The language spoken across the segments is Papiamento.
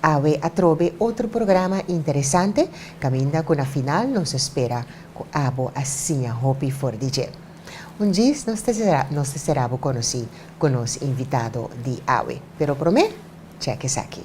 Awe atrobe otro programa interesante caminda cu na final nos a spera cu abo a siña hopi for di dje. Un djis nos ta nos ta cera bo conoci cu nos invitado di awe. Pero prome check esaki.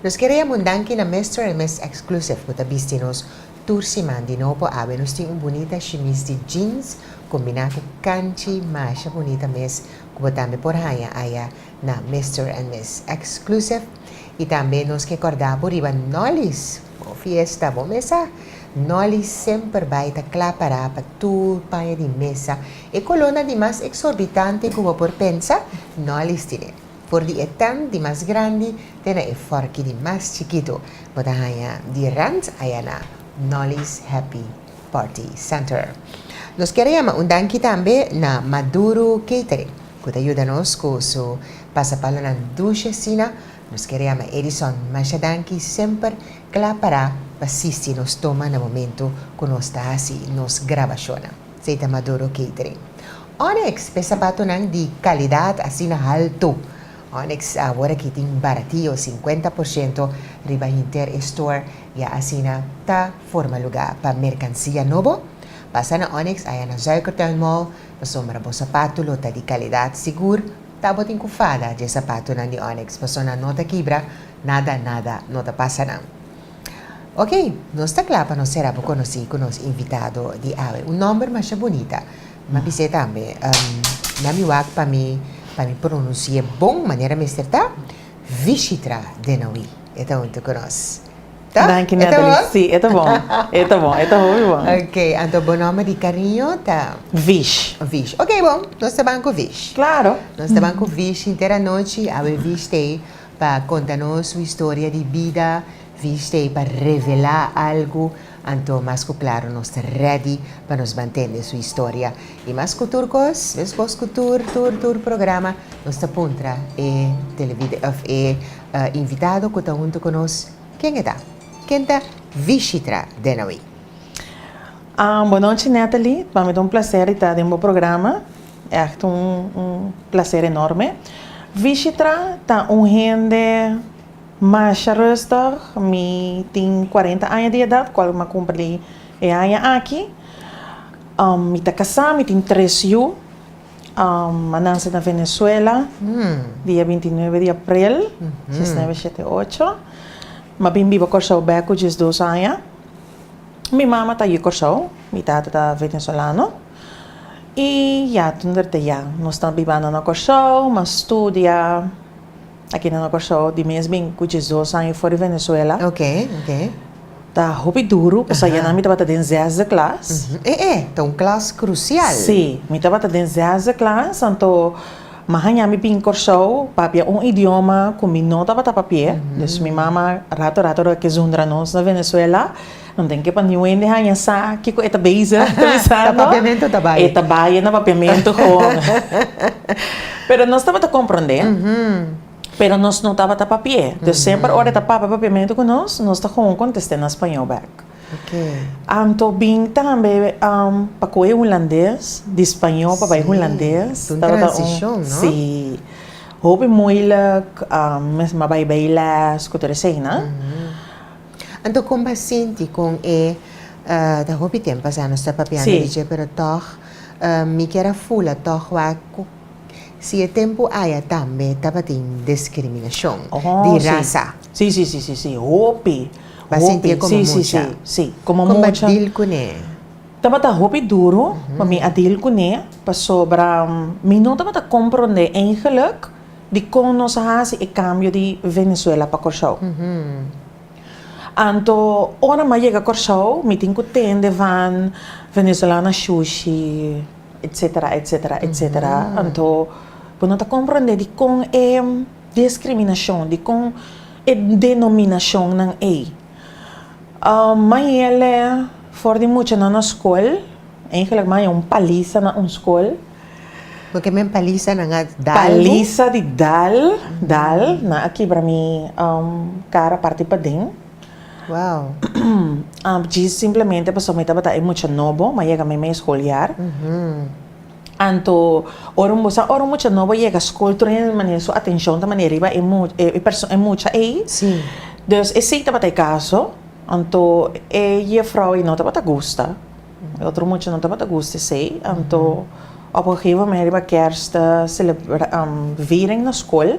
Nos kere yama un danki na Mister en Miss Exclusive ku ta bisti nos tur siman di nobo. Awe nos tin un bunita shimis di jeans kombina ku kanchi masha bunita mes ku bo tambe por haña aya. na Mister and Miss Exclusive y tambe nos ke corda bo riba Nolly's bo fiesta bo mesa Nolly semper bay ta cla para pa tur paña di mesa e colona di mas exorbitante cu bo por pensa Nolly's tine for di e tent di mas grandi te na e forki di mas chikito bo ta haña di rent ayana Nolly's Happy Party Center. Nos kier yama un danki tambe na Maduro Catering cu ta yuda nos cu su pasapalanan dushe asina nos kier yama Edison masha danki semper cla para pa sisti nos toma na momento cu nos ta haci nos grabacionnan. Esey ta Maduro Catering. Onyx pe sapatonan di calidad asina halto. Onyx awor aki tin baratio cincuenta por ciento riba hinter e store ya asina ta. Forma lugá pa merkansia nobo. Pasa na Onyx aya na Zuikertui Mall pasobra bo sapatu lo ta di kalidat sigur. Ta bo tin ku fada dje sapatunan di Onyx paso nan no ta kibra, nada nada no ta pasa nan. Ok, nos ta kla pa nos sera bo konosí ku nos invitado di awe. Un nòmber masha bunita, ma bis'é tambe, na mi wak pa mi pa mi pronunsi'é bon manera mester ta, Vishitra Denoui e ta huntu ku nos. Ta? Danki E ta Natalie. bon? Si, e ta bon. E ta bon, e ta hopi bon. Ok, anto bo nòmber di kariño ta Vish. Vish. Ok bo, nos ta ban ku Vish. Klaro. Nos ta ban ku Vish hinter anochi. Awe Vish ta ei pa konta nos su historia di bida. Vish ta ei pa revelá algu. Anto mas ku klaro nos ta rèdi pa nos ban tende su historia. I mas ku tur kos, deskos ku tur, tur, tur programa, nos ta puntra e televi, òf e eh, invitado ku ta huntu ku nos, Ken e ta? Ken ta Vishitra Denoy? Bonochi Nathaly, pa mi ta un placer di ta den bo programa, echt un placer enorme. Vishitra ta un hende masha rustig, mi tin cuarenta aña di edad, cual mi a cumpli e aña aki. Mi ta casa, mi tin tres yu. Mananse na Venezuela dia binti nuebe di aprel djes nuebe shete ocho. Mi a bin biba Kòrsou bèk ku djes dos aña. Mi mama ta yu Kòrsou, mi tata ta venezolano. I ya tunda ta ya nos ta bibanda na Kòrsou, mi a studia. Aki na Kòrsou, di mes bin ku diesdos aña for di Venezuela. Oke, oke. Ta hopi duru, pasobra Aha. ya nan mi tabata den zesde klas. Mhm. E e, ta un klas krusial. Sí, mi tabata den zesde klas, anto mi a haña mi bin Kòrsou pa papia un idioma ku mi no tabata papia. Mhm. Dus mi mama rato rato lo a kesundra nos na Venezuela. Nan den ke pa niu hende haña sa kiko e ta beza Ta papiamentu ta bai. E ta bai, e na papiamentu gewoon. Pero nos tabata komprondé, pero nos no tabata papi'é. Dus semper ora e ta papia papiamentu ku nos, nos ta gewoon kontest'é na spañol bèk. Anto bin tambe pa kohe hulandes, di spañol pa bai hulandes. Si, un transishon, no? Si. Hopi moeilijk, mes mi a bai beiles ku tur eseinan. Anto kon bo a sinti kon e, ta hopi tempo asá nos ta papiando di dje pero tòg mi kier a fula tòg wak si e tempo aya tambe tabatin diskriminashon di rasa. Sí, sí, sí, sí, sí, hopi, hopi. Bo a sinti e komo mucha? Sí, sí, sí, komo mucha. Kon bo a dil kuné? Tabata hopi duru pa mi a dil kuné pasobra mi no tabata komprondé eingelek. Dikon nos a hasi e kambio di Venezuela pa Kòrsou? Anto ora mi a yega Kòrsou mi tin ku tende van Venezolana shushi etsetera etsetera etsetera anto bo no ta komprondé dikon e diskriminashon dikon e denominashonnan ei mi a yele for di muchanan na skol eigenlik mi a haña un paliza na un skol. Bo ke men paliza nan a dal bo? Paliza di dal, dal, nan a kibra mi um kara parti paden. Wow. Ah, dji simplemente pasobra mi tabata e mucha nobo, mi a yega mi mes scoliar. Anto, ora un, bo sa, ora un mucha nobo yega scol, tur hende ta manera su atencion ta manera riba e mu, e perso, e mucha ey. Sí. Dus esey tabata e caso. Anto, e juffrouw ey no tabata gusta. E otro mucha no tabata gusta esei, anto op un gegeven moment riba kers ta celebra viering na skol,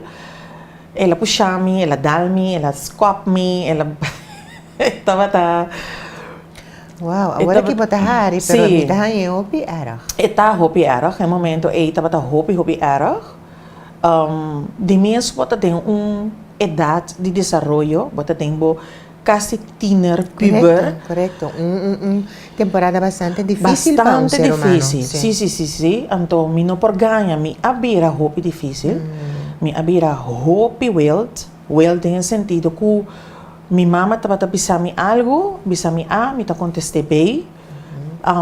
el a pusha mi, el a dal mi, el a skop mi, el a e tabata. Wow, awor aki bo ta hari, pero mi ta haña e hopi erg. E ta hopi erg, e momento ei tabata hopi hopi erg, di mes bo ta den un edad di desaroyo, bo ta den bo casi tiener, puber. Correcto, correcto. Un, un, un temporada bastante difícil pa un Bastante ser humano. difícil, sí, sí, sí, sí. Anto mi no por gaña, mi a bira hopi difícil, mi a bira hopi wild, wild den e sentido cu mi mama tabata bisa mi algo, bisa mi A, mi ta contesté B,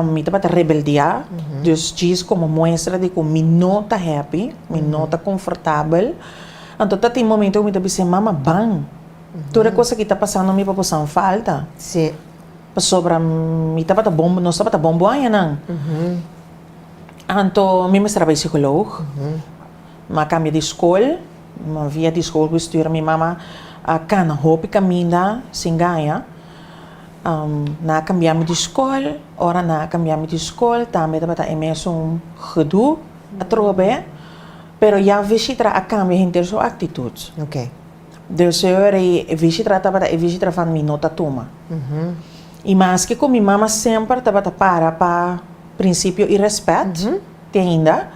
mi tabata rebeldiá, dus djis como muestra di cu mi no ta happy, mi no ta confortabel. Anto ta tin momento cu mi ta bis'é, mama, ban! Tur e cosa ki ta pasando mi papusan falta. Si. Pasobra mi tabata bon, nos tabata bon buhañanan. Anto mi mester a bai psicoloog. M'a cambia di scol. Mi via di scol cu studia mi mama a cana hopi caminda, sin gaya. N'a cambia mi di scol. Ora n'a cambia mi di scol tambe tabata e mesun gedoe atrobe. Pero ya Vishitra a cambia henter su actitud. Deseo era e visitra tabata e visitra van mi no ta tuma. I maske ku mi mama semper tabata para pa prinsipio i rèspèt, te ainda,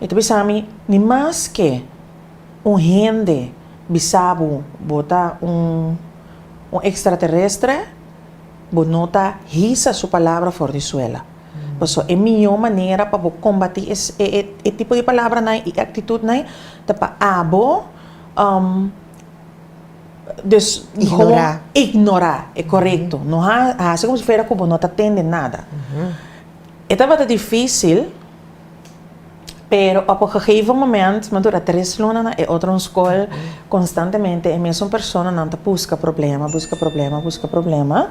e ta bisa mi, mi mas ke un hende bisa bo bo ta un un ekstraterestre, bo no ta hisa su palabra for di suela. Paso e mihó manera pa bo kombatí e e tipo di palabranan i aktitutnan ta pa abo dus ignorá ignorá e korekto no ha hasi komo si fuera ku bo no ta tende nada e tabata difisil pero op e gegeven moment mi a dura tres luna na e otro skol konstantemente e mesun personanan ta buska problema buska problema buska problema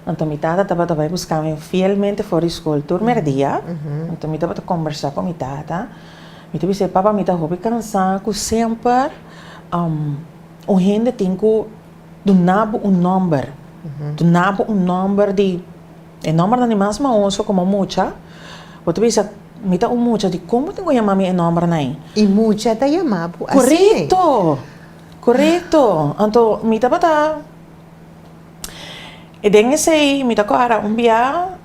anto mi tata tabata bai buska mi fielmente for di skol tur mèrdia anto mi tabata kombersá ku mi tata. Mi ta bisa e papa mi ta hopi kansa ku semper un hende tin ku duna bo un nòmber, duna bo un nòmber di e nòmbernan di mas mahoso komo mucha. Bo ta bisa, mi ta un mucha di kon bo tin ku yama mi e nòmbernan ei? I mucha ta yama bo asina ei? Korekto! Korekto! Anto mi tabata den esei mi ta kòrda un biaha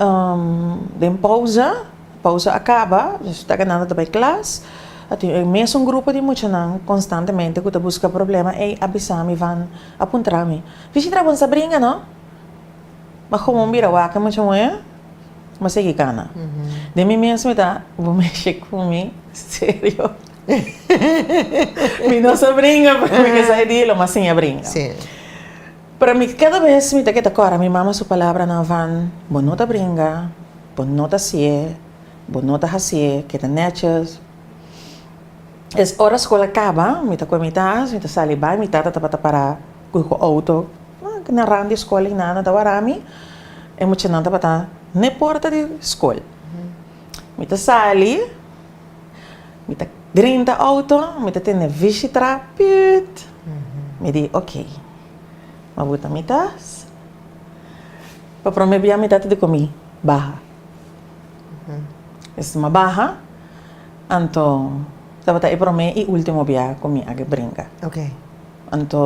den Pousa. Pausa a kaba, Jesús ta ganando ta bai klas. A tin e mesun grupo di muchanan konstantemente ku ta buska problema. Ey a bisa mi, Van a puntra mi, Visita bon sa bringa, no? Ma komo mi bira wak e mucha muhe, mi a sigui kana. Den mi mes mi ta, Bo mesh'e ku mi serio? Mi no sa bringa, pero mi ke sa e di lo, mi a siña bringa. Pero mi cada bes mi ta keda kora mi mama su palabranan van bo no ta bringa, bo no ta siye, bo no ta hasiye keda netjes. Es ora skol a kaba mi ta kue mi tas mi ta sali bai mi tata tabata para cu cu auto na ran di skol y nada ta wara mi e muchanan tabata ne porta di skol mi ta sali Mi ta grenta auto, mi ta tende vishi tra, püt! Mi di, ok. Mi buta mi tas. Pa prome bia mi tata di komi, Baha. Esei mi a baha, anto tabata e prome i ultimo bia ku mi a ke brinka. Anto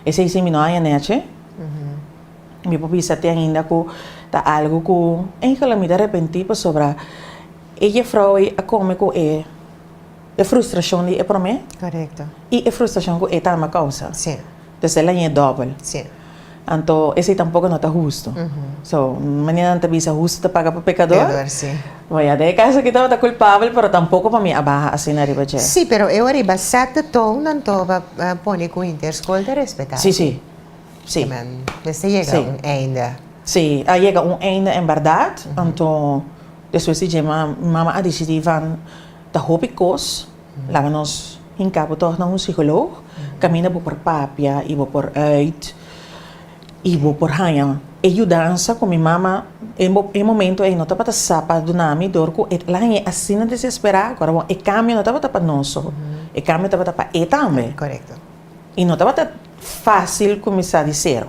esei si mi no haña nechi, mi por bisa te ainda ku ta algu ku engelau mi ta repenti pasobra. E jefrouw ei a come cu e e frustracion di e prome y e frustracion cu e tambe a causa. Entonces el a yen dobel. Anto esey tampoco no ta husto. So, manera nan ta bisa husto ta paga pa pecador, bo ya den e caso aki tabata culpabel, pero tampoco pa mi a baha asina riba dje. Sí, pero ewa riba set de toon nan toba pone cu interschool ta respeta aki. Sí, sí. Porque nan mester yega un einde. Sí, a yega un einde en berdad. Anto. Despues di dje man, mi mama a disidí van ta hopi kos, laga nos hinká bo tòg na un sikolog, kaminda bo por papia i bo por ùit i bo por haña e yudansa ku mi mama e momentu ei no tabata sa pa duna mi dor ku e el a hañ'é asina desesperá ku arobo e kambio no tabata pa nos so, e kambio tabata pa e tambe i no tabata fásil kuminsá di sero.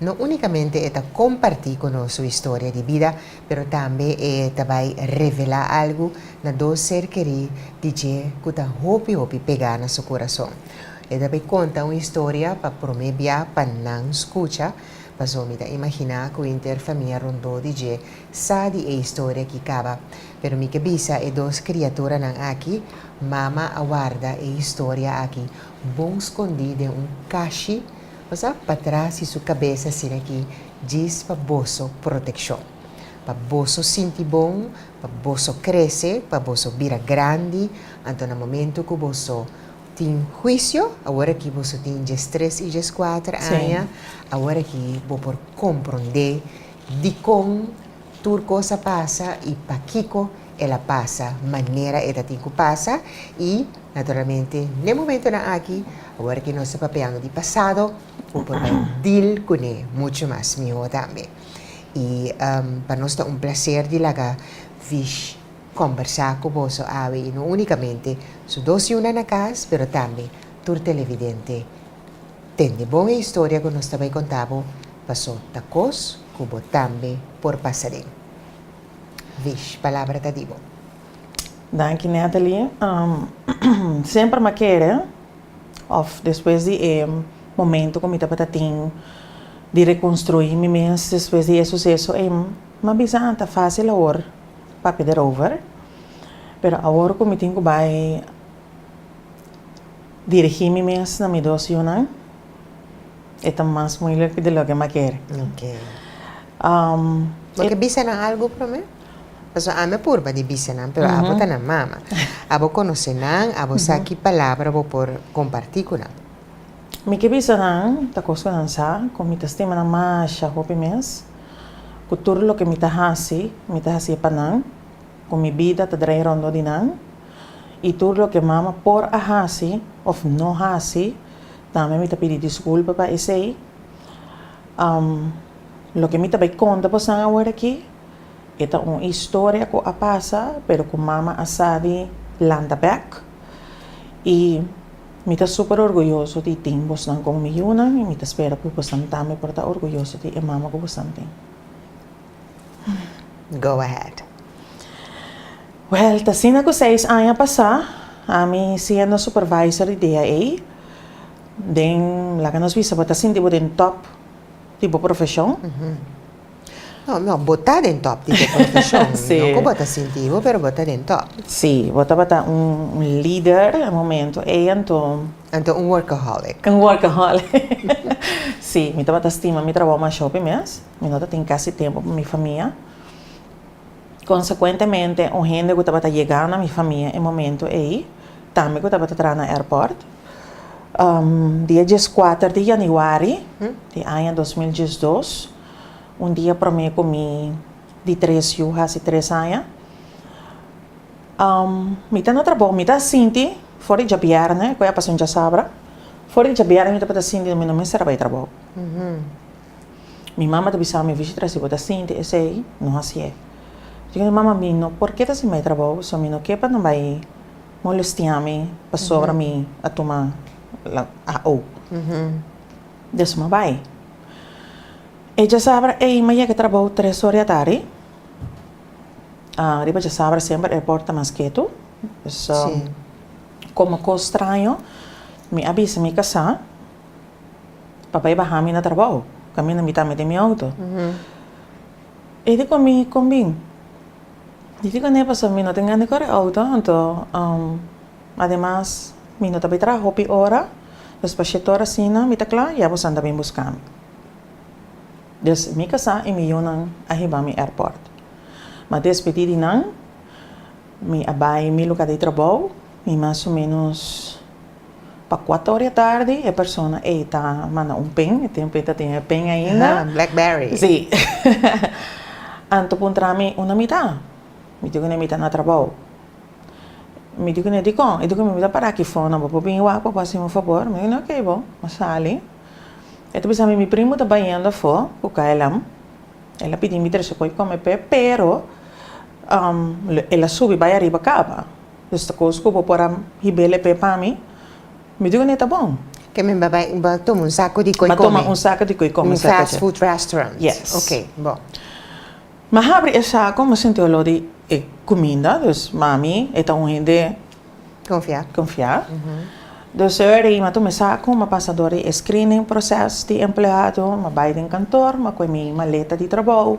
No únikamente e ta kompartí ku nos su historia di bida, pero tambe e ta bai revelá algu na dos ser kerí di dje ku ta hopi hopi pegá na su kurason. E ta bai konta un historia pa promé bia pa nan skucha, paso mi ta imaginá ku henter famia rondó di dje sa di e historia ki kaba. Pero mi ke bisa e dos kriaturanan aki, Mama a warda e historia aki bon skondí den un kashi, Pasa patras di su kabesa asina aki, djis pa boso protekshon. Pa boso sinti bon, pa boso krese, pa boso bira grandi, anto na momentu ku boso tin huisio, awor aki boso tin djes tres i djes kuater aña, awor aki bo por komprondé dikon Tur cos a pasa y pakico el a pasa manera e ta tin cu pasa y naturalmente n'e momentonan aki awor que nos ta papeando di pasado bo por bay deal cune mucho mas miho tambe y pa nos ta un placer di laga Vish combersa cu boso awe y no unicamente su dos yunan na cas pero tambe tur televidente Tende bon e historia cu nos ta bay conta bo, paso ta cos cu bo tambe por pasa den. Vish, palabra ta di bo. Danki Nathalie. Semper ma kere of despues di e momento cu mi tabata tin di reconstrui mi mes despues di e suceso ey, ma bisa ta facil awor papia derover, pero awor cu mi tin cu bay. Dirigí mi mes na mi dos yunan e ta mas muilik di loke mi a kere. Bo ke bisa nan algu promé? Pasobra ami a purba di bisa nan, pero abo ta na mama. Abo konosé nan, abo sa ki palabra bo por kompartí ku nan. Mi ke bisa nan, ta kos ku nan sa, ku mi ta stima nan masha hopi mes, ku tur loke mi ta hasi, mi ta hasi pa nan. ku mi bida ta drai rondó di nan, i tur loke mama por a hasi òf no hasi, tambe mi ta pidi diskulpa pa esei. Loke mi ta bai konta bosan awor aki, e ta un historia ku a pasa, pero ku mama a sa di lanta bèk. I mi ta super orguyoso di tin bosnan komo mi yunan, i mi ta spera ku bosnan tambe por ta orguyoso di e mama ku bosnan tin. Go ahead. Well, ta asina cu seis aña pasá, ami siendo supervisor di DAA, den, laga nos bisa, bo ta sinti bo den top di bo profesion? No, no, bo ta den top di bo profesion. Sí. No cu bo ta sinti bo, pero bo ta den top. Sí, bo tabata un lider e momento ei, anto. Anto un workaholic. Un workaholic. Sí, mi tabata stima mi trabaho masho pe mes. Mi no ta tin casi tempo pa mi famia. Consecuentemente un hende cu tabata yega na mi famia e momento ey tambe cu tabata traha na airport. Dia diescuater di januari di aña dos mil diesdos, un dia prome cu mi di tres yu haci tres aña, mi ta na trabou, mi ta sinti for di djabierne, cu e a pasa un djasabra, for di djabierne mi tabata sinti mi no mester a bay trabou. Mi mama ta bisami Avicii tra si bo ta sinti esei, no hasié. Yo di mama mi no por keda hasi mai trabou, so mi no ke pa nan bai molestiami pasobra mi a tuma AO. Despues mi bai. E djasabra ei mi a yega trabou tres or di atari. Riba djasabra semper airport ta mas ketu. Komo kos straño mi a bisa mi kasá. pa bai baha mi na trabao, caminda mi ta mete mi auto. Uh -huh. E di con mi, con bin. Di fico ne paso, mi no tin gan di corre auto, anto, um, ademas, mi no ta bai traha hopi ora, dus pa shete ora sina, mi ta cla, ya bosan ta bin busca mi. Dus mi casa y mi yunan a hiba mi airport. Ma despedi di nan, mi a bai mi lugar di trabao, mi mas o menos, Pa kuater di atardi e persona ei ta manda un pen, e tempu ei ta tin e pen ainda. Aha, Blackberry. Sí. Anto puntra mi, una mi ta? Mi di ku ne mi ta na trabou. Mi di ku ne dikon? E di ku mi, mi ta para aki for, nan bo por bini wak pa bo hasi mi un fabor? Mi di ku ne, oké bo. Mi a sali. E ta bisa mi, mi primu ta bayendo afó ku KLM. El a pidi mi trese koe kome p'e, pero el a subi bai ariba kaba. Nos ta cos cu bo por a hibel e pe pa mi. Mi digo ne ta bon. Ke mi ba bai ba toma un saco di coi come. Ba toma un saco di coi come. Un fast food restaurant. Yes. Ok bo. Mi a habri e saco mi sinti olor di e cuminda dus mami e ta un hende. Confia. Confia. Dus mi a toma e saco mi a pasa door di e screening proces di empleado mi a bai den kantoor mi a cu e mi maleta di trabao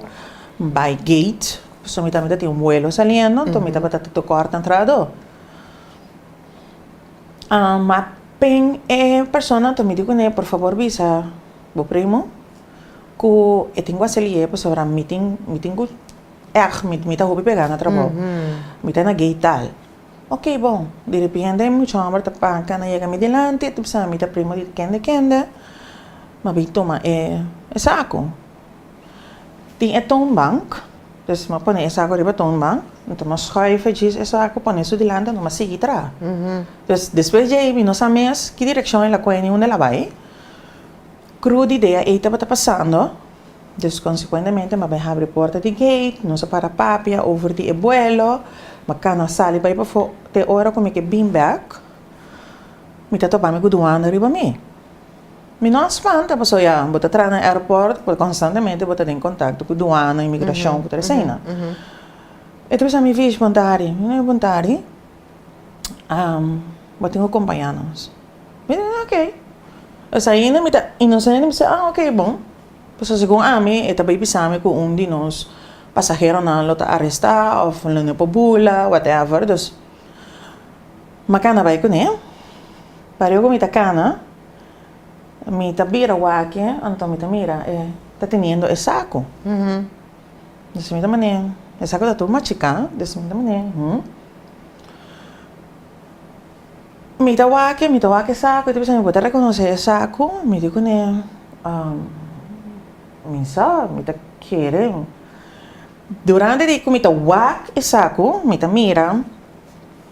mi bai gate So mi tambe ta tin un vuelo saliendo, to mi tabata ta to corta entrada door. Um, ma apen e persona to mi di cune, por favor bisa bo primo cu e tin cu a sali aye pasobra mi tin, mi tin cu erg mi, mi ta hopi pega na trabao. Mi ta na gate tal. Ok bon. Derepende e mucha homber ta parca, na yega mi delanti, e ta bisa mi ta primo di kende kende, m'a bin tuma e saco. Tin e toonbank, dus mi a pone e saco riba e toonbank, mi ta mas schuive djis e saco, pone su dilanti, mi a sigui traha. Dus, despues di ei mi no sa mes ki direccion el a coge ni unda el a bai, cru di idea ei tabata pasando, dus consecuentemente mi a bai habri e porta di gate, nos a para papia over di e buelo, mi a cana sali bai pafo, te ora cu mi ke bin back, mi ta topa mi cu duanda riba mi. Mi no a spanta pasobra ya, bo ta traha na aeroport por constantemente bo ta den contacto cu duana, inmigracion, cu tur eseinan. E ta bisa mi, Vish, bon tardi. Mi no, bon tardi. Um, bo tin cu compaña nos. Mi ta bisa, ok. Pues ainda mi ta inocente, mi ta bisa, ah, ok, bon. Pasobra segun ami, e ta bay bisa mi cu un di nos pasaheronan lo ta aresta of lo no e por bula, whatever. Dus. Ma cana bay cune. Pare oko mi ta cana, mi ta bira waki, anto mi ta mira e ta teniendo e saco. Deci mi ta mane, e saco ta tur machica, deci mi ta mane, hm. Mi ta waki, mi ta waki e saco, mi ta bisa mi por ta reconoce e saco, mi di cune, mi sa, mi ta kere. Durante di cu mi ta wak e saco, mi ta mira.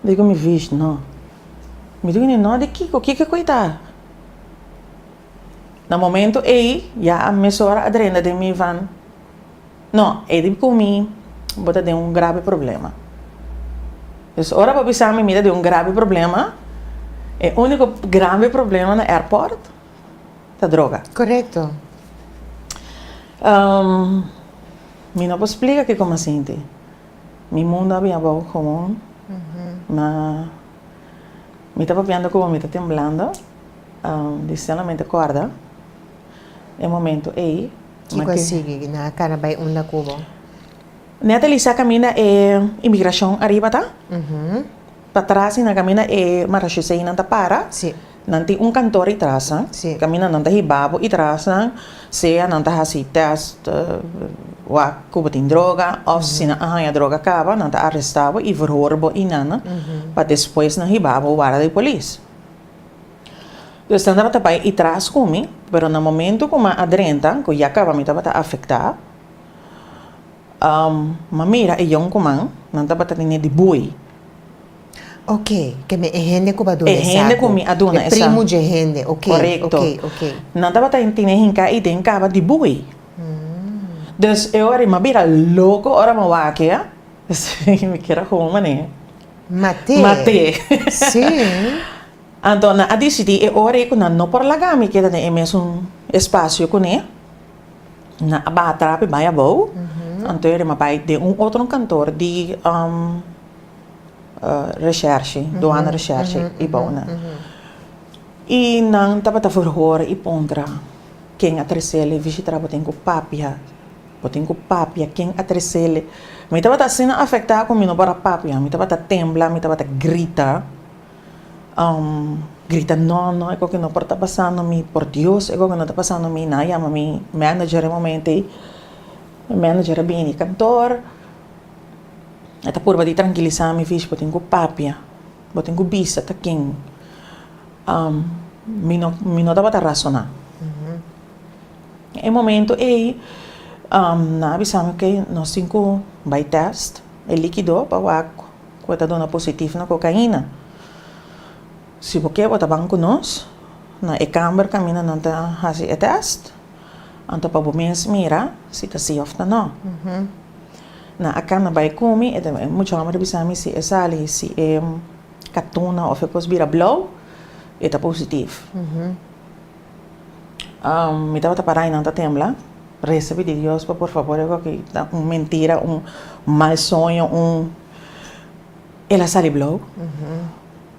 Dico mi vish, No. Mi dico ni, No di kico? Kico e coita? Na momento ey, ya a mesora a drenda den mi van. No, e di cumi bo ta den un grabe problema. Dus ora bo bisa mi mi ta den un grabe problema, e unico grabe problema na airport ta droga. Correcto. Mi no por splica kico mi a sinti. Mi mundu a bin abou gewoon, ma mi ta papiando ku bo, mi ta temblando di solamente kòrda e momentu ei. Kiko a sigui? Nan a kara bai unda ku bo? Nan a talisá kaminda e imigrashon ariba ta, pa tras i nan kaminda e marashoseinan ta para. Nan tin un kantor i trasnan, kaminda nan ta hibá bo i trasnan, sea nan ta hasi tèst wak ku bo tin droga òf si nan a haña droga kaba, nan ta arestá bo i verhoor bo i nan, pa despues nan hibá bo wara di polis. Pues nan tabata bai i tras ku mi, pero na momentu ku mi a drenta, ku ya kaba mi tabata afektá, mi a mira e yon kuman, nan tabata tene di bui. Ok, ke mi e hende ku bo a duna e saku. E hende ku mi a duna e saku. E primu dje hende, ok. Korekto. Ok, ok. Nan tabata e tine hinká i den kaba di bui. Dus e ora mi a bira loko ora mi a wak-a, mi kier a hoga manera di. Mat'é. Mat'é. Sí. Anto nan a disidí e ora ei ku nan no por laga mi keda den e mesun espasio kuné. Nan a baha trapi bai abou. Anto e ora mi a bai den un otro kantor di. reshershi, doana reshershi i bouna. I nan tabata verhoor i pontra ken a tresele vishitra bo tin ku papia, bo tin ku papia ken a tresele. Mi tabata asina afekta ku mi no por a papia, mi tabata tembla, mi tabata grita, grita no no e koki no por ta pasando mi, por dios e koki no ta pasando mi, nan a yama mi manager e momentei, mi manager a bini kantoor. E ta purba di trankilisa mi, Fish, bo tin ku papia, bo tin ku bisa ta ken. Mi no, mi no tabata rasoná. E momento ei nan a bisa mi, Ok, nos tin ku bai tèst e líkido pa wak ku e ta duna positif na kokaina. Si bo ke bo ta ban ku nos na e kàmber kaminda nan ta hasi e tèst. Anto pa bo mes mira si ta si of ta no. Na a cana bay cumi e mucha homber a bisa mi si e sali si e catuna of e cos bira blauw e ta positivo. Mi tabata para y nan ta tembla reza pidi Dios pa por favor e goki ta un mentira un mal soño un el a sali blauw.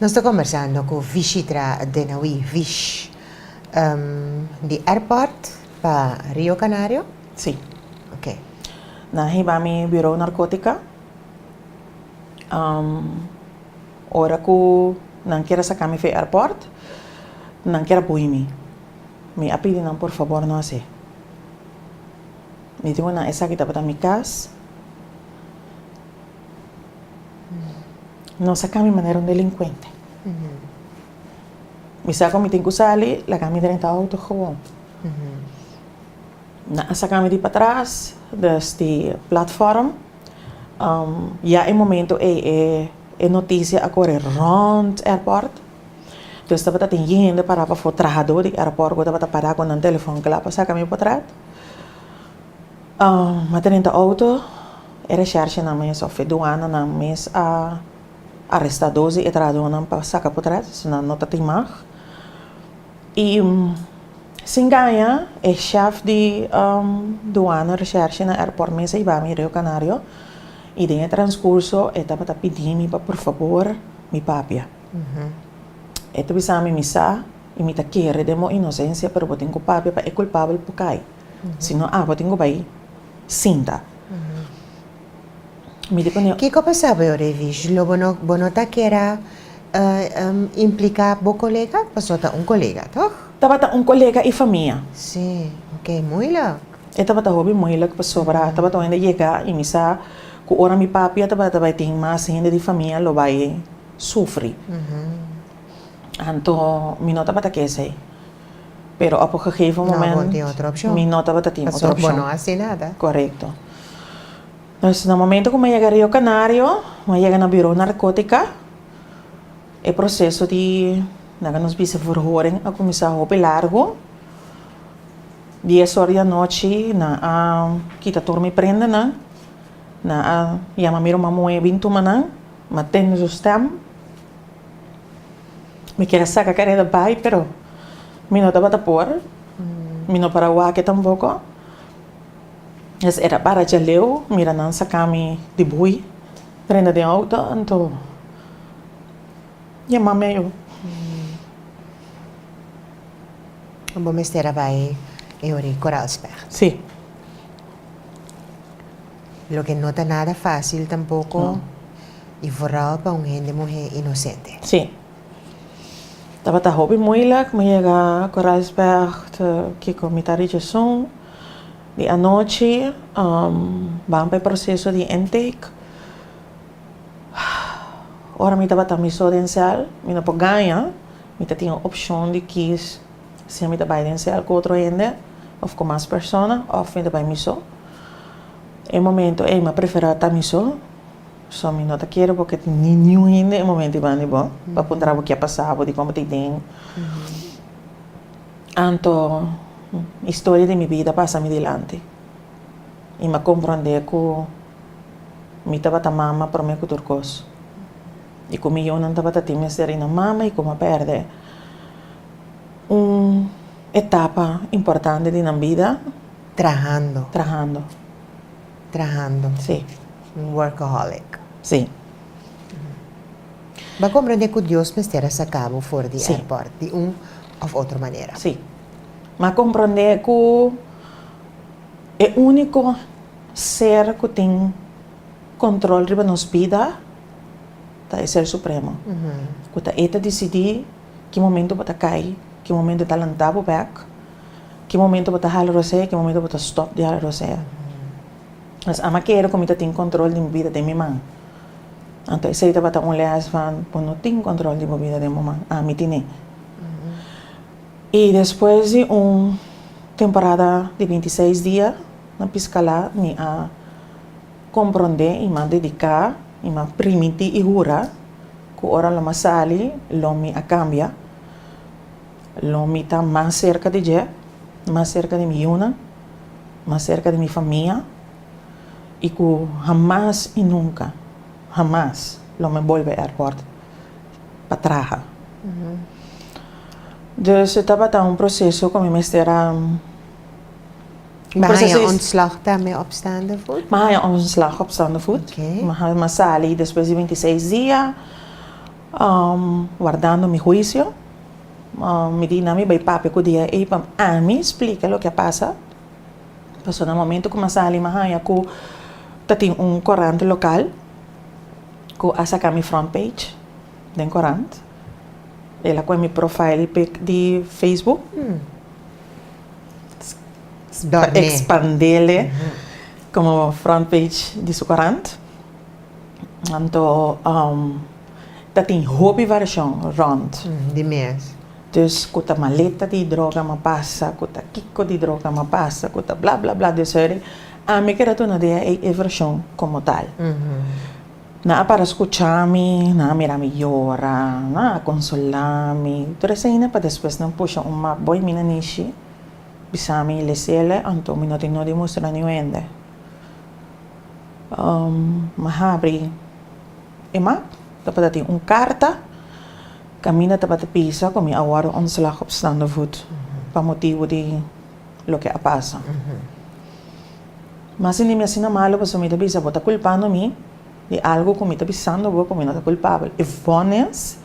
Nos ta kombersando ku Vishitra Denawi, Vish, di airport pa Rio Canario? Sí. Ok. Nan hiba mi Bureau Narkotika. Ora ku nan kier a saka mi for e airport, nan kier a boi mi. Mi a pidi nan por fabor no hasi. Mi diku nan esaki tabata mi kas. Nos a cambia manera un delincuente. Mm -hmm. Mi sa mi tin sali, la cambia mi renta auto gewoon. Mm -hmm. Na a saca mi di para atrás, dus di platform. Um, ya e momento e, e, e noticia a corre rond airport. Dus tabata tin hende para pafo, trahador di airport, cu tabata para cu nan telefoon cla pa saca mi potrat. Um, ma ta renta auto. E reshershnan mes of e duananan mes a aresta dos di e trahadornan pa saka potret, asina no ta timag. I sin gaña e shèf di duana, reshershe na airport mes a yeba mi Rio Canario i den e transcurso e tabata pidi mi pa por fabor mi papia. E ta bisa mi mi sa i mi ta kere den bo inocencia pero bo tin cu papia pa e culpabel por cay. Si no agua tin cu bay sinta. Mi di pone. Kico pasa bo ora e vish? Lo bo no bo no ta kera implica bo colega? Paso ta un colega, toch? Tabata un colega y famia. Sí, ok. Moeilijk. E tabata hopi moeilijk pasobra a tabata un hende yega y mi sa cu ora mi papia tabata bay tin mas hende di famia lo bay sufri. Anto mi no tabata ke esey. pero op un gegeven moment mi no tabata tin otro opcion. Bo no haci nada. Correcto. Entonces na momento cu mi a yega Rio Canario, mi a yega na Bureau Narcotica, e proceso di nan cu nos bisa verhoring a cuminsa hopi largo. Dies ora di anochi nan a kita tur mi prendanan, nan a yama mi ruman Moe bin tuma nan, mi a tende su stem. Mi kier a saca careda bay pero mi no tabata por. Mi no para wak e tampoco. Nos era para djaleu mira nan saca mi di boei prenda den auto anto dje mami a yo. Bo mester a bay e ora y Corralsberg. Si. Loke no ta nada fácil tampoko i vooral pa un hende muhé inosente. Sí. Tabata hopi moeilijk. Mi yega Koraalsberg te kiko mi ta rechasun. Di anochi ban pa e proseso di intake. Ora mi tabata mi so den sèl mi no por gaña. Mi ta tin e opshon di kis Sea mi ta bai den sel ku otro hende òf ku mas persona òf mi ta bai mi so. E momento ei mi a preferá ta mi so. So mi no ta kere bo ke tin niun hende e momento ei banda di bo pa puntra bo ke a pasa bo, dikon bo ta yi den. Anto historia di mi bida a pasa mi dilanti i mi a komprondé ku mi tabata mama promé ku tur kos i ku mi yunan tabata tin mester i na mama i ku mi a pèrdè Un etapa importante di nan bida. Trahando. Trahando. Trahando. Sí. Un workaholic. Sí. Bo a comprende cu Dios mester a saca bo for di airport di un of otro manera. Sí. Mi a comprende cu e unico ser cu tin control riba nos bida ta e Ser Supremo. Cu ta e ta dicidi. ki momento bo ta kai, ki momento ta lanta bo bek, ki momento bo ta hala rosea, ki momento bo ta stop di hala rosea. Pues a mi a kere ku mi ta tin kontrol di mi bida den mi man. Anto esei tabata un lès van bo no tin kontrol di bo bida den bo man, a mi tin'é. I despues di un temporada di binti seis dia na Piskalá mi a. Komprondé i man dediká i man primintí i hura ku ora lo mi sali lo mi a kambia, lo mi ta mas serka di Dje, mas serka di mi yunan, mas serka di mi famia i ku hamas i nunka, hamas lo mi bolbe airport pa traha. Dus e tabata un proseso ku mi mester a. Mi haya ontslag tambe op staande voet? Mi haya ontslag op staande voet. Mi a sali despues di bintiseis dia wardando mi huisio. Mi di nan mi bai papia ku DIA ei pa ami splika loke a pasa. Pasobra na momentu ku mi a sali mi haya ku tatin un korant lokal ku a saka mi front page. den korant. El a koe mi profile pic di Facebook. Dormi. Expandele como front page di su korant. Anto ta tin hopi variashon rond. Di mes. Dus ku ta maleta di droga mi a pasa, ku ta kiko di droga mi a pasa, ku ta bla bla bla. Dus heri ami keda duna idea e e variashon komo tal. Nan a para scucha mi, nan a mira mi yora, nan a consola mi. Tur esaina pa despues nan pusha un map bo y mina Nishi bisa mi Leciele anto mi no tin no di mustra niuhende. Mi habri e map, tabata tin un carta, caminda tabata bisa cu mi a wordo ontslag op staande voet pa motibo di loke a pasa. Ma si mi asina malu pasobra mi ta bisa bo ta kulpando mi di algu ku mi ta bisando bo ku mi no ta kulpabel, if bo nes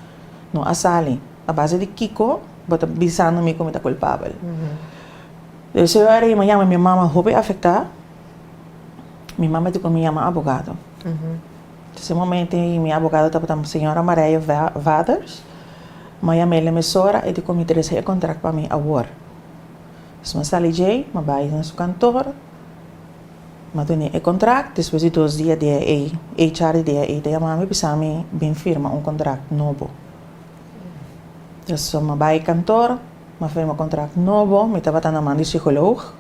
no a sali, a base di kiko bo ta bisando mi ku mi ta kulpabel? Di ese ora ei mi a yama mi mama hopi afektá, mi mama a tika mi yama abogado. Di ese momento ei mi abogado tabata señora Mareya Waters, mi a yama el na mesora, e di ku mi trese e kontrakt pa mi awor. Esnan sali djei, ma bai na su kantor, ma tene e kontrakt. Despues di dos dia dia ei, e HR di dia ei ta yama mi bisa mi bin firma un kontrakt nobo. Pasobra mi bai kantor, mi a firma kontrakt nobo, mi tabata na man di sigolog.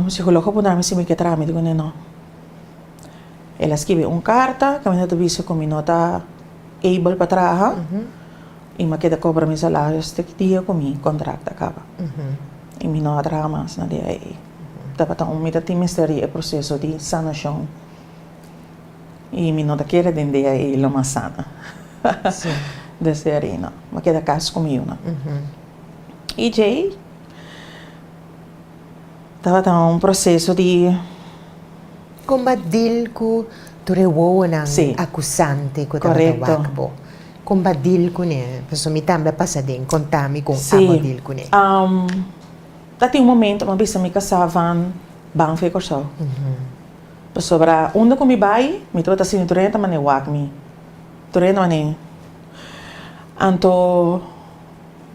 Sigolog a puntra mi si mi ke trámite kuné nò. El a skibi un karta ku a menta bisa ku mi no ta able pa traha. I m'a keda kobra mi salario hasta ki dia ku mi kontrakt ta kaba. I mi no a traha mas na dia ei. Tabata un mi ta tin mester di e proseso di sanashon. I mi no ta kere den dia ei lo m'a sana. Desde ari no. M'a keda kas ku mi yuna. I djei tabata un proseso di. Kon b'a dil ku tur e wowonan akusante ku tabata wak bo? Con ba deal cune? Pasobra mi tambe a pasa den, contami con abo deal cune. Sí, a tin un momento cu mi a bisa mi casa van ban fe Corsou. Pasobra unda cu mi bay, mi ta bata sini tur hende ta mane wak mi. Tur hende mane. Anto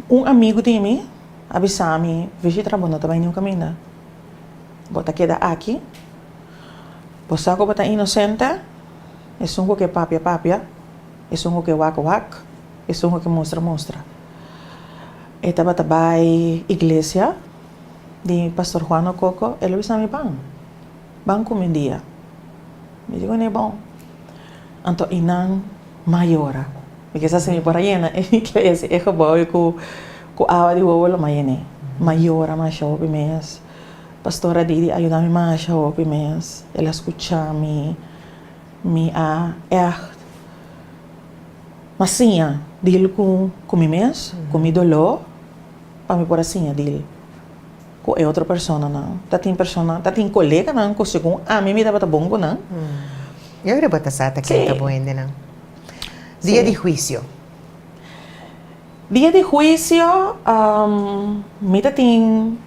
un amigo di mi a bisa mi, Visitra, bo no ta bay ningun caminda. Bo ta keda aki. Bo sa cu bo ta inocente. Esun cu ke papia papia. Esun hopi a wak a wak, esun hopi a mustra a mustra. E tabata bai iglesia di Pastor Juan Ococo, el a bisa mi ban, ban kumi un dia. Mi di kuné bon. Anto i nan mayora, mi kisa si mi por a yena e iglesia, e gebou ei ku ku awa di wowo lo mas yené. Mayora masha hopi mes. Pastor Adidi a yuda mi masha hopi mes, el a skucha mi. Mi a ègt na siña di el ku ku mi mes, ku mi doló, pa mi por a siña di el ku e otro personanan. Ta tin persona, ta tin koleganan ku segun ami mi tabata bon ku nan. Yo kre bo ta sa ta kende bon hendenan. Dia di huisio. Dia di huisio mi ta tin.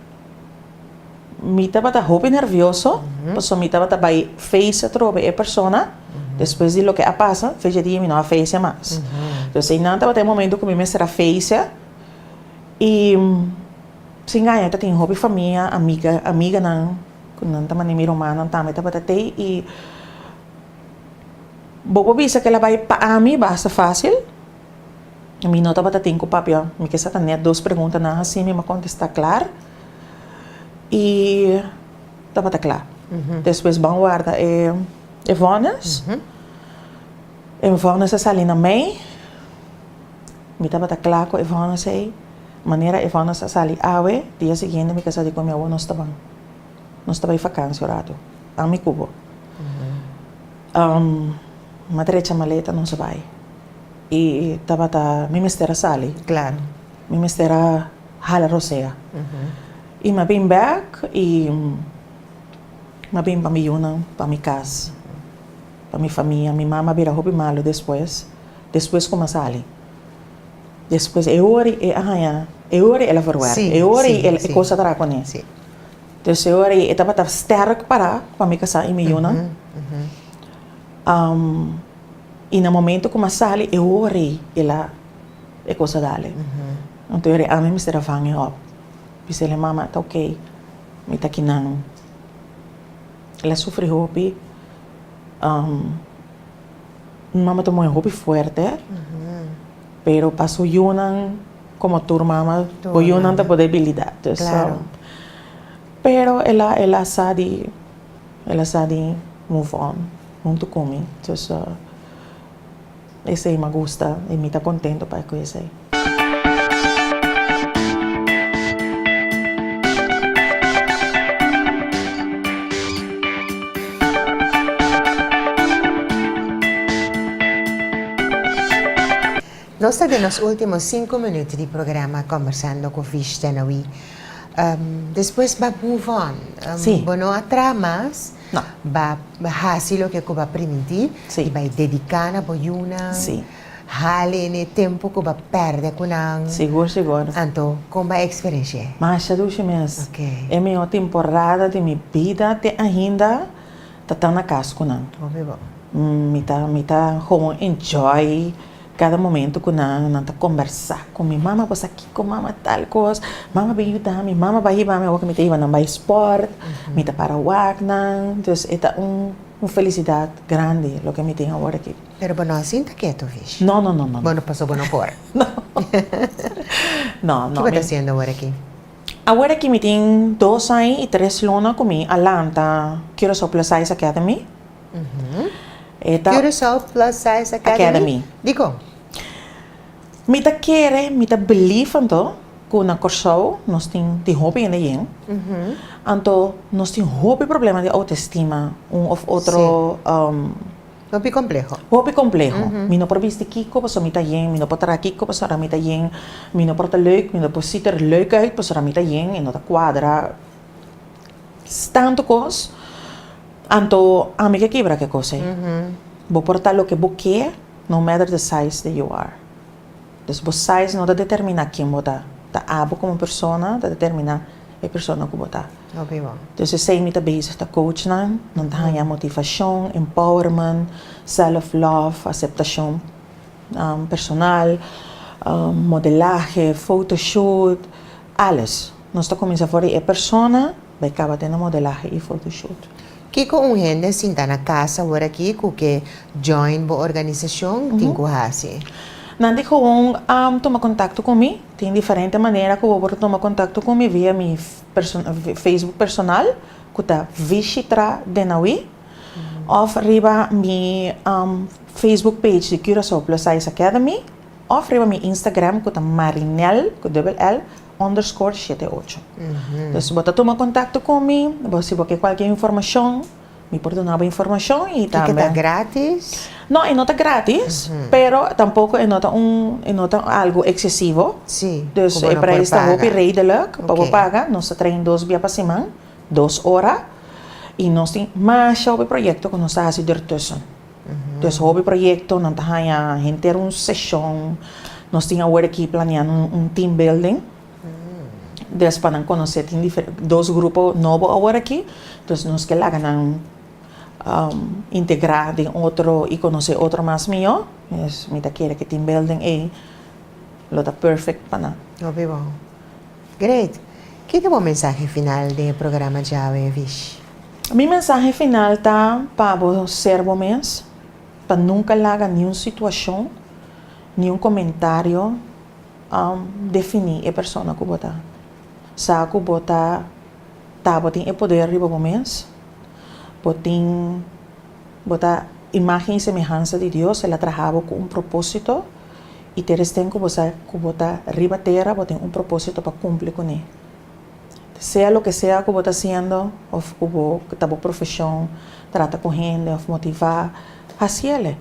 Mi tabata hopi nervioso, pasobra mi tabata bai face atrobe e persona. Despues di loke a pasa, fecha di e mi no a face mas. Entonces einan tabata e momento ku mi mester a face. I sin gaña ta tin hopi famia, amiga, amiganan ku nan ta manda mi rumannan tambe tabata tei. I bo por bisa ke la bai pa ami basta fácil. Mi no tabata tin ku papia mi ke sa ta nèt dos preguntanan hasi mi m'a kontestá klar i tabata kla. Despues ban warda e e vònes. E vònes a sali na mei. Mi tabata kla ku e vònes ei. Manera e vònes a sali awe, dia siguiente mi ke sa di ku mi awo nos ta ban. Nos ta bai fakansia un ratu, ami ku bo. Ma trecha maleta nos a bai. I tabata mi mester a sali clan, mi mester a hala rosea. I m'a bin bek i m'a bin pa mi yunan, pa mi cas, pa mi famia. Mi mama a bira hopi malu despues, despues ku m'a sali. Despues e ora i e a haña, e ora i el a verwerk, e ora i e kosa a traha kuné. Tercero era e tabata sterk para pa mi kasa i mi yunan. Um, i na momento ku ma sali e hori el a e kosa dale. Anto era e ami mester a vang e hop. Bisele mama, ta ok. Mi ta kinan. El a sufri hopi. Um, mi mama ta moe hopi fuerte. Pero pa su yunan como tur mama bo yunan ta por debilidad dus pero el a el a sa di el a sa di move on hunto con mi dus esey me gusta y mi ta contento pa cu esey. Nos ta den nos ultimo sinku minut di programa Conversando cu Vishta na wi. Despues ba move on. Bo no a traha mas. Ba hasi loke cu bo a primintí i bai dediká na bo yunan. Hali ni tempu ku bo pèrdè ku nan. Sigur sigur. Anto, kon bo a eksperenshia e? Masha dushi mes. E mihó temporada di mi bida te ainda ta ta na kas ku nan. Hopi bo. Mi ta mi ta gewoon enjoy kada momentu ku nan. Nan ta kombersá ku mi, mama bo sa kiko, mama tal kos, mama bin yuda mi, mama bai hiba mi. Awor ku mi ta hiba nan bai spòrt, mi ta para wak nan. Entonces e ta un felisidat grandi loke mi tin awor aki. Pero bo no a sinta keto, Vish. No, no, no, no, no. Bo no paso bo no por. No. No, no. Ki bo ta haciendo awor aki? Awor aki mi tin dos ai y tres luna cu mi a lanta Curaçao Plus Size Academy. E ta. Curaçao Plus Size Academy? Academy. Di con? Mi ta kere, mi ta believe anto cu na Corsou nos tin, tin hopi hende yen. Anto nos tin hopi problema di autoestima, un of otro. Sí. Hopi kompleho. Hopi kompleho. Mi no por bisti kiko pasobra mi ta yen, mi no por traha kiko pasobra mi ta yen, mi no por ta leuk, mi no por ziet er leuk uit pasobra mi ta yen, e no ta kuadra. S tantu kos, anto ami ke kibra ke kos ei. Bo por ta loke bo ke no matter the size that you are. Pues bo size no ta determina ken bo ta, ta abo como persona ta determina e persona cu bo ta. Hopi bo. Entonces esey mi ta bezig ta coach nan, nan ta haya motivacion, empowerment, self love, aceptacion personal, modelahe, foto shoot, alles. Nos ta cuminsa for di e persona bay caba te na modelahe y foto shoot. Kiko un hende sinta na kasa wor aki ku ke join bo organisashon tin ku hasi? Nan di gewoon a tuma kontakto ku mi. Tin diferente manera ku bo por tuma kontakto ku mi via mi Facebook personal ku ta Vishitra Denawi òf riba mi Facebook page di Curaçao Plus Size Academy òf riba mi Instagram ku ta Marinel ku dubbel L underscore shete ocho. Entonces, bo ta tuma contacto con mi, bo si bo ke cualkier informacion, mi por duna bo informacion y tambe. Y ke ta gratis? No, e no ta gratis, pero tampoco e no ta un, e no ta algo excesivo. Si, ku bo no por paga. Dus e prijs ta hopi redelijk pa bo paga. Oké. Nos ta train dos bia pa siman, dos ora, y nos tin masha hopi proyecto ku nos ta hasi dertussen. Des hopi proyekto nan ta haña henter un seshon, nos tin awor aki planeá un team building, des pa nan konosé tin dos grupo nobo awor aki, dus nos ke laga nan integrá den otro i konosé otro mas mihó, mi ta kere ke team building ei lo ta perfect pa nan. Great! Ki ta bo mensahe final den e programa Djawe e Vishi? Mi mensahe final ta pa bo ser bo mes, pa nunka laga niun situashon, niun komentario definí e persona ku bo ta. Sa ku bo ta, bo tin e poder riba bo mes, bo tin Bo ta imágen i semehansa di Dios. El a traha bo ku un propósito, i teresten ku bo sa ku bo ta riba tera, bo tin un propósito pa kumpli kuné. Sea loke sea ku bo ta hasiendo òf ku bo ta bo profeshon, trata ku hende òf motivá, hasi el'e.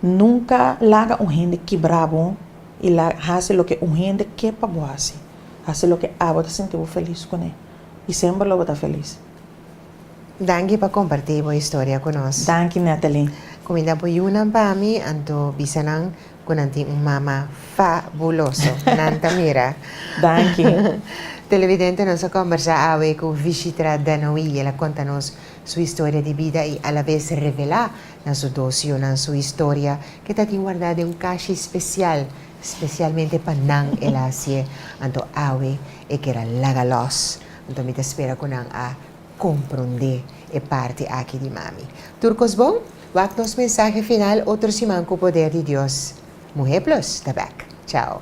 Nunka laga un hende kibrá bo i la hasi loke un hende ke pa bo hasi. Hasi loke abo ta sinti bo felis kuné, i semper lo bo ta felis. Danki pa kompartí bo historia ku nos. Danki Nathalie. Kuminda bo yunan pa mi, anto bisa nan ku nan tin un mama fabuloso. Nan ta mira. Danki. Televidente, nos a kombersá awe ku Vishitra Danoui. El a konta nos su historia di bida i alabes revelá na su dos yunan su historia ke tatin wardá den un kashi spesial, spesialmente pa nan el a hasié. Anto awe e keda laga lòs. Anto mi ta spera cu nan a compronde e parti aki di mami. Tur cos bon? Wak nos mensahe final otro siman cu poder di Dios. Muhe Plus ta back. Chao.